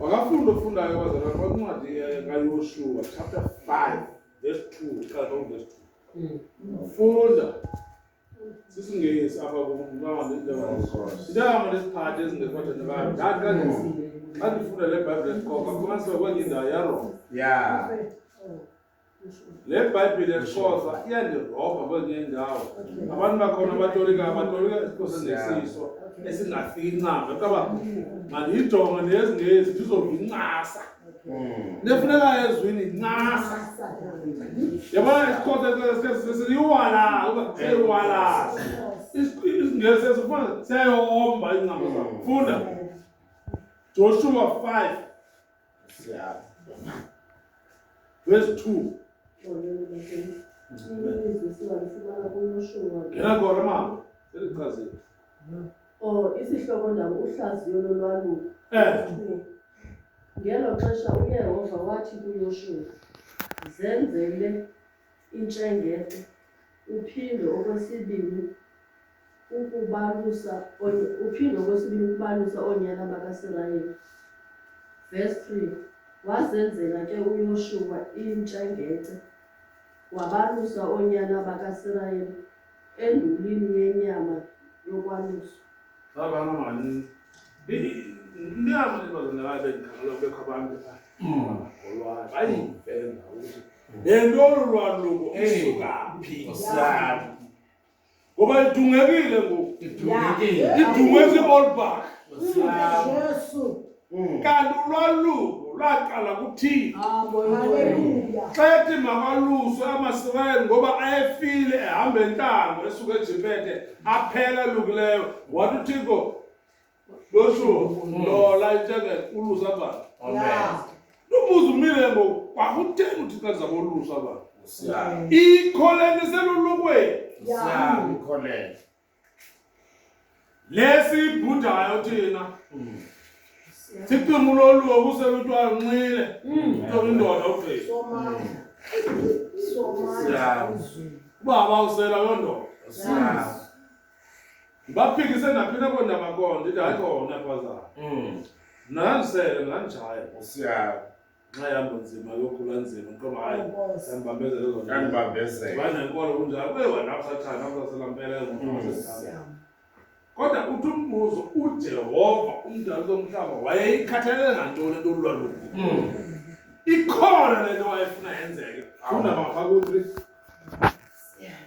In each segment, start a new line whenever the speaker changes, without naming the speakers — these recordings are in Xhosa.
wakafunda
ofundayo wazala kwancwadi kayoshuwa chapter 5 verse 2 qala verse 2 funda sisingesi apha kumntawandintama lesiphathi ezingekwathana bayo ndathi xa ndifunda le bhayibhile esiqoka fumanisa kwenye indawo yarongo ya le bhayibhile yesixhosa iyandirobha kwezinye indawo abantu bakhona abatolika abatolika esixhosa nesiso esingafincanga kaba mandiyijonge nezingezi ndizovincasa nefunekayo ezwini ncasa yabona isixhosa sesiyiwala uba seyiwala isingesi esifuna seyoomba iincama zam funda joshua 5 Siyabo. Verse 2. Ngena khona mama. Selichazile. Oh, isihloko
ndaba uhlaziyo lolwaluko. Eh. Ngelo xesha uYehova wathi kuYoshuwa, "Zenzele intshengete, uphinde okwesibini ukubalusa uphinde okwesibini ukubalusa oonyana bakaSirayeli. Verse 3 Wazenzela ke uYoshuwa intshengete, wabalusa oonyana bakaSirayeli endulini yenyama yokwalusa. Babana
maninzi. Inyama lebazinakayo bendikhangelwa kubekho abantu abangolwayo. Bayimfela ukuthi nento olu lwaluko usuka phi siyani ngoba idungekile ngoku idungeke iolbach kanti ulwaluko laqala kuthini xa ethi makaluswe amasirayeli ngoba ayefile ehamba entango esuka ejipete aphela lukileyo wathi uthixo losho lola itsheke ulusa abantu Yeah. lubuza umile ngoku kwakutheni uthixo alizama olusa abantu Usiyazi. ikholeni selulukweni Usiyazi
ukholelwa.
lesibhudayo thina Mm. siqinga uloliwe kuseluthiwa nxile kuthiwa indoda ufeyisi Somaya. Somaya. Siyazi. ubaba usela loo ndoda Usiyazi. ndibaphikise naphi na kona makona ndithi hayi kona bazana Mm. mnandisele mnandijaya Usiyala. nxa ihamba nzima yokhula nzima ntoba hayi Inkosi. yandibambezele ezo nto. Yandibambezela. banenkolo kunjalo kuye wanakusathana nakusaselampela Siyama. kodwa uthi umbuzo ujehova umdali komhlaba wayeyikhathalele ngantoni into olulwaluko Mm. ikhona le nto wayefuna yenzeke funda mapha kuthi Siyama.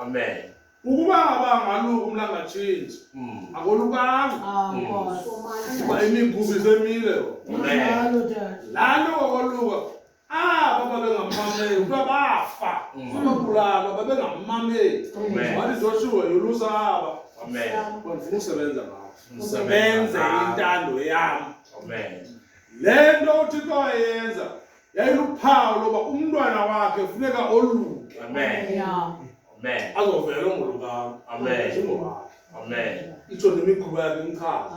amen ukuba
abangalo umlangatshintshi mm. akolukanga ah, mm. kuba imigubi semile lalo kwakoluka aba babengamameli kuthiwa bafa ababulalo mm. babengamameli wathi zoshiwe yolusa aba bandifuna usebenza ngabo benze intando yam le nto uthixo ayenza yayiluphawu loba umntwana wakhe funeka oluke azovela ongolukam itsho nemikhuba yakhe imchaza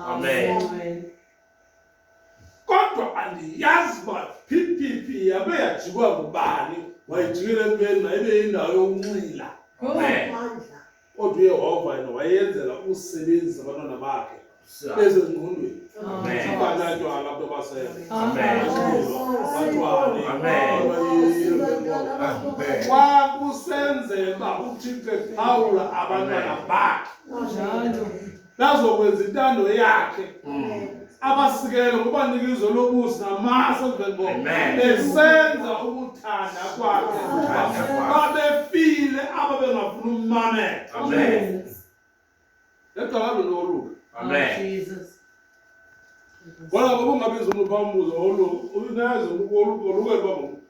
kodwa andiyazi uba phiphipi yabe yajikwa ngubani wayijikela entweni mayibe yindawo yokunxila kodwa uyehova yena wayenzela ukusebenzisa abantwana bakhe bezezingqondweni abanatywala abantu abasebatwalexa kusenzeka uthixo ephawula abantwana bakhe nazokwenza intando yakhe mm. abasikele ngokubanika izwe lobusi namasa emveni besenza ukuthanda kwakhe babefile aba bengafuni ummamela egcakalo noruka ngoba ngoba ungabiza umuntu phambuzo olu unazi oluke luba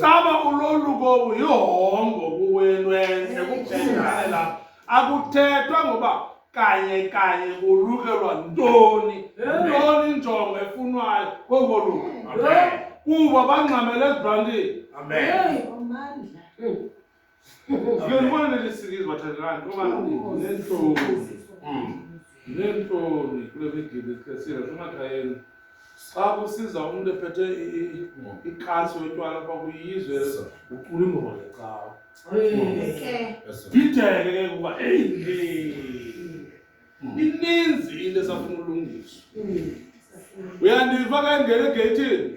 Caba uloluko yihongo kuwenwenze kuphela akuthethwa ngoba kanye kanye kulukelwa ntoni ntoni injongo efunwayo kongoluko kuba bangxamele ezibhantini Uyolibona neli sikizwe bathandana uba neentloni neentloni kule migidi ikhesile kumakhayeni xa kusiza umntu ephethe ikasi wetywala uba kuyizwe ucula ingoma ngecawa bideke ke kuba eyi ininzi into esafuna ulungiswa uyandiva ke ngene egeyithini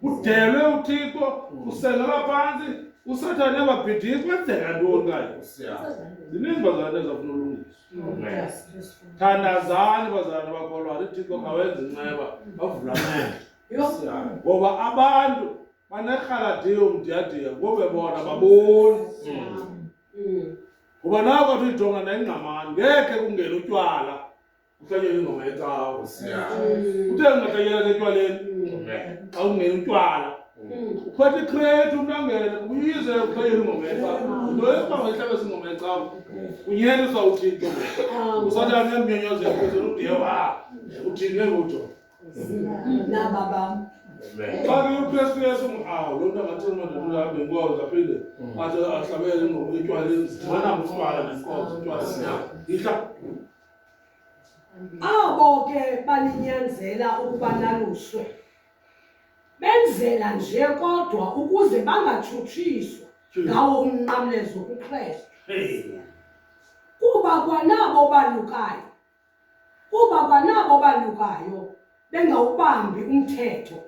Kudelwe uThixo, kusengelwa phantsi, uSathane ababhidiyi kwenzeka ntoni kayo? Zininzi bazalwane ezafuna ulungiswa. Thandazani bazalwane bakholwayo, uThixo kawenza inceba, bavula amehlo. Ngoba abantu banerhaladiyo mdiyadiya ngobe bona baboni. Ngoba nako athi uyijonga nengqamani, ngeke kungena utywala. kuhlanyela ingoma yecawa uthe ngingahlanyela setywaleni xa ungena utywala uphatha ikhreti unangele uyize uhlanyela ingoma yecawa into yokuba ngayihlabesa ingoma yecawa unyeliswa uthixo usatana nemnyonyozo yaphezulu udiyewa uthini ke ngutho
naba bam xa ke
ukristu yesu awu loo nto angathi umadadulabe inkozo aphinde athi ahlabele ingoma itywala zidibana ngutywala nenkozo itywala ihla
Abo ke baninyanzela ukuba naluswe benzela nje kodwa ukuze bangatshutshiswa ngawo umnqamlezo kuKristu. Kuba kwanabo balukayo, kuba kwanabo balukayo bengawubambi umthetho,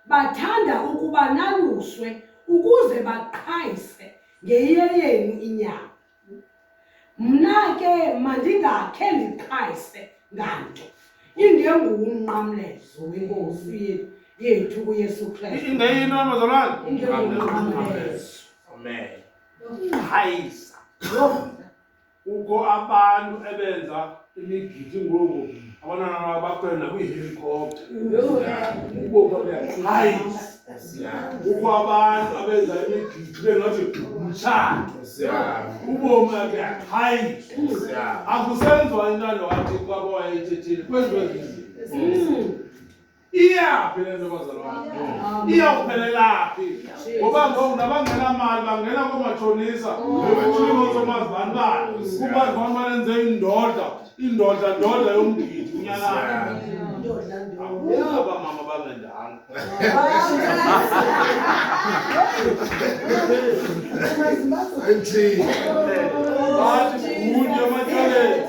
bathanda ukuba naluswe ukuze baqhayise ngeyeyenu inyama. Mna ke mandingakhe ndiqhayise nganto ingengumnqamlezo wenkosi yethu uyesu kristu ingeyinto amazalwane
ingengumnqamlezo
amen uqhayisa
kukho abantu ebenza imigidi ngoku abantwana babakhwela nakwiihelikopta hayi kukho abantu abenza imigidi bengathi mtshana ubomi ake hayi akusenziwa intando wathi kwabo wayethethile kwenziwe zizinto iyaphi le nto bazalwane iyawuphelelaphi ngoba ngoku nabangenamali bangena koomatshonisa ebetulingosomazi bani bani kubazi bani banenze indoda indoda ndoda yomgidi unyanayo abamama bangendanga bathi kunye ematyaleni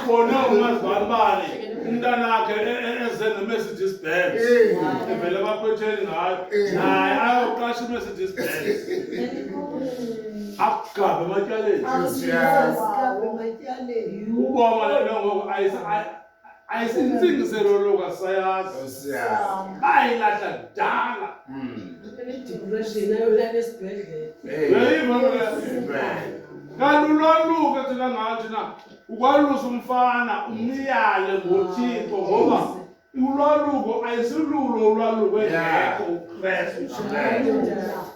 khona ungazibani bani umntanakhe e- e- eze ne-mercedes benz evele baphetheni ngayo naye ayoqasha i-mercedes benz akugabe ematyaleni uboma le nto ngoku ayisa- ay- ayisintsingiselo loka sayazi bayilahla kudala kalulwaluke thina ngathi na ukwalusa umfana umniyale ngothixo ngoba ulwaluko ayisilulo ulwaluko engekho ukristu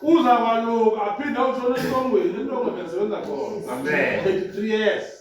uza kwaluka aphinde utshona esitongweni into ongebesebenza khona 23 years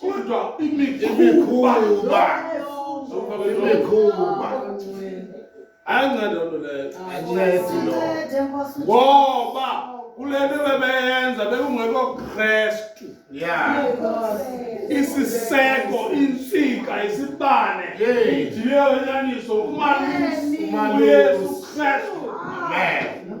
kodwa imikhuba imikhuba ayinceda loo nto leyo ayincedi loo ngoba kule nto bebeyenza bekungekho kristu ya isiseko intsika isibane idiye wenyaniso umalusi uyesu kristu amen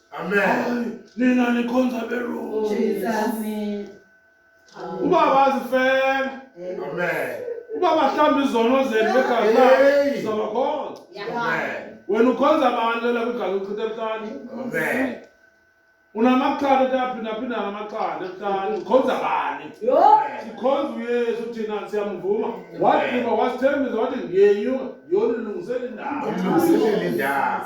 Amen. Nina nikhonza
beru. Jesus. Ubaba azifela. Amen.
Ubaba hlamba
izono zenu begazi lakhe sizabakhonza. Amen.
Wena ukhonza
abantu lela kwigazi uchitha ebuhlani. Amen. Unamaqanda utaphinda phinda ngamaqanda ebuhlani. Ukhonza bani? Sikhonza uYesu thina siyamvuma. Wathi wasithembisa wathi ngiyenyuka yona ilungisele indawo. Ilungisele indawo.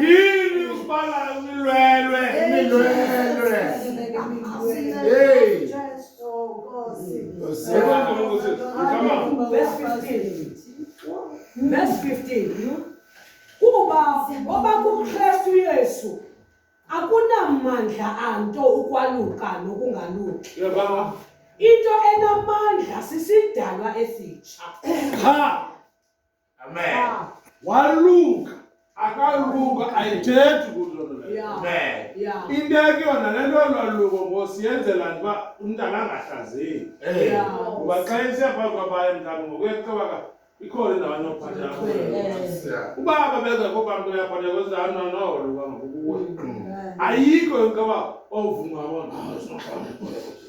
Yini ukubala umilwelwe imilwelwe. Hey. Come
on. Verse 15. Verse 15. Kuba ngoba kuKristu Yesu akunamandla anto ukwaluka nokungaluki. Yababa. Into enamandla sisidalwa esitsha. Ha.
Amen. Ah. Walunga
akalunga ayithethi
inteke yona
le nto lwaluko ngosi yenzela nje uba umntana angahlazeki eh. kuba xa isiya phambi kwabaye mntana ngokuyeqabaka ikhona indawo anokuphathela eh. uba babengekho bamntu uyaphatheka kwezano nowoluka ngokukuwe ayikho yonke uba ovuma bona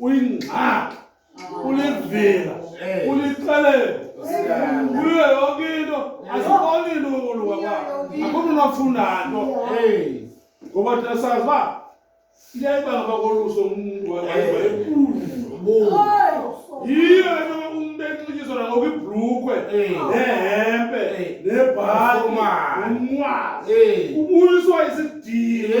uyingxaki ulivila ulixelele kuyo yonke into asiboni into ukulunga kwakho akukho unafunda nto ngoba thina sazi uba iyayibanga bakoluso umntu enkulu yiyo into umntu enxityiswa nangoku ibhlukhwe nehempe nebhali umnwazi ubuyiswa isidile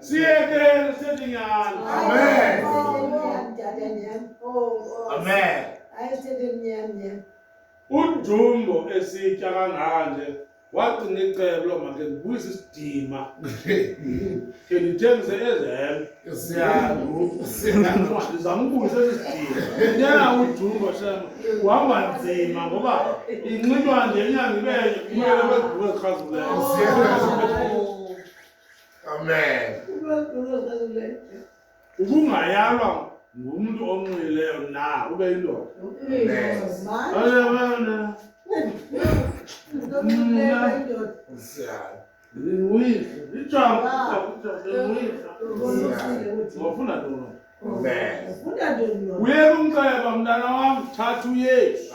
Siete Sedinyan. Amen. Amen. Ujumbo esitya kanganje wacinga icebo loba ke ndibuyise isidima ke ndithengise ezelo ndizama ubuyisa esi sidima nyana ujumbo shema uhamba nzima ngoba inxitywa nje inyanga ibe kumele kwezibuko ezichazuleyo
Amen.
Ukungayalwa ngumntu onxileyo na ube yindoda. Amen. uyeka umceba mntana wam thatha uyesu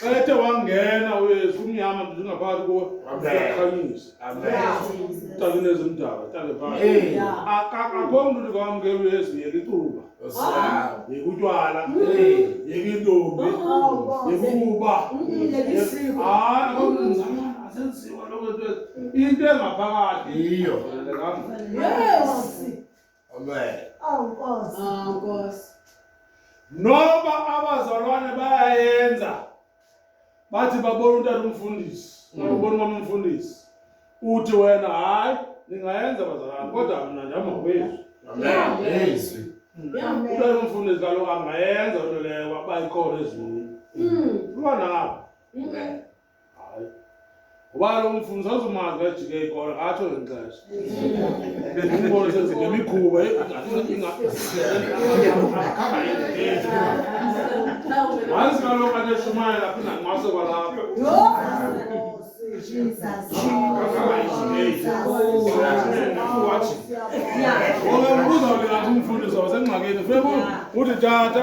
xa ethe wangena uyesu umnyama nje ngaphakathi kuwe uyakhanyisa talinezi mdala tale phakathi akakho mntu ndikwamkela uyesu yeka icuba yeka utywala yeka intombi yekukuba hayi akho mntu ndizama asenziwa loo nto into engaphakathi yiyo
Amen. Awu Nkosi. Ah
Nkosi. Noba abazalwane bayayenza bathi babona umntana umfundisi, babona umama umfundisi. Uthi wena hayi ningayenza bazalwane kodwa mna ndihamba ngokwezwi. Amen.
Izwi. Amen. Umntana
umfundisi kaloku angayenza into leyo bayikhona ezweni. Mm. Lwana ngapha. Amen. hayi ngoba kaloku umfundisi azomazi kajike ikolo atsho ngexesha umbone senzingemikhuba wazi kaloku ateshumayela aphinda nqwase kwalapho ngoba uzawulingathi umfundisi wasengxakini funa uthi tata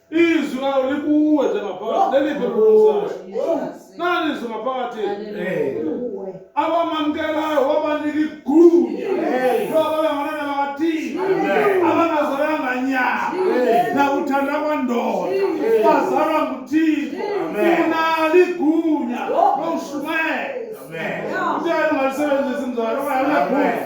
Izwi lawo likuwe njengaphakathi. Leliphi lulungisayo? Nani izwi ngaphakathi? Abamamkelayo wabanika igunya loba bengabantwana bakathini abangazalanga nyama nakuthanda kwandoda bazalwa nguthixo unalo igunya lokushumayela uthe ungalisebenzisi mzalo ungayakuyagunya